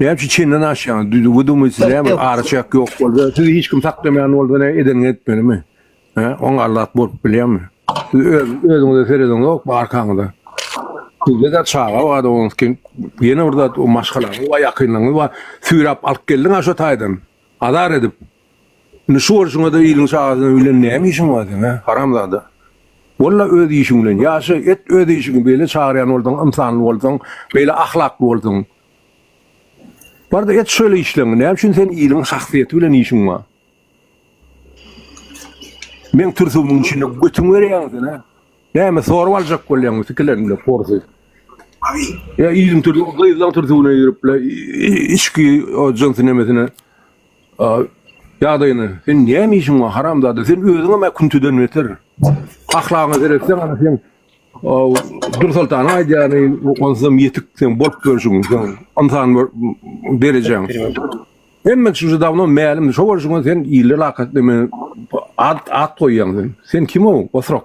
Näme üçin çenden aşýaňyz? Düzügi dumi sizä bir araçak ýok bolsa, sizi hiç kim saklamaýan bolsa ne eden etmelimi? He, oň allat bolup bilýärmi? Siz öz özüňize serediň ýok bu arkaňyza. Sizde de çaga bar onuň kim? Ýene bir zat o maşgalaňyz we ýakynlaryňyz bar. Süýräp alyp geldiň aşa taýdan. Azar edip. Indi şu bolşuňada iliň şahasyna bilen näme işiň bar seň hä, haramzada. Walla öz işiň bilen ýaşa, et öz işiňi beýle çagyrýan bolsaň, ynsanly bolsaň, beýle ahlakly bolsaň. Barda et şöyle işleňi, näme üçin sen iliň şahsyýeti bilen işiň bar. Meň türsügimiň içinde götüňi berýäňmi sen hä? Näme sorup aljak bolýaňmy sikilerinde porsy. Ýa iliň türsügine, gyzlaň türsügine girip bile içki o jynsy nemesine. Ýagdaýyny sen näme işiň bar haramzada sen özüňem a küntüden beter. Ahlagyňa seretseň ana sen Dursoltanyň aýdýany onsuzam ýetik sen bolup görşüň sen ynsan derejäň. Hemmek şu dawno mälim şo bolşuňa sen ille lakat deme at at goýýaň sen. Sen kimow osrak.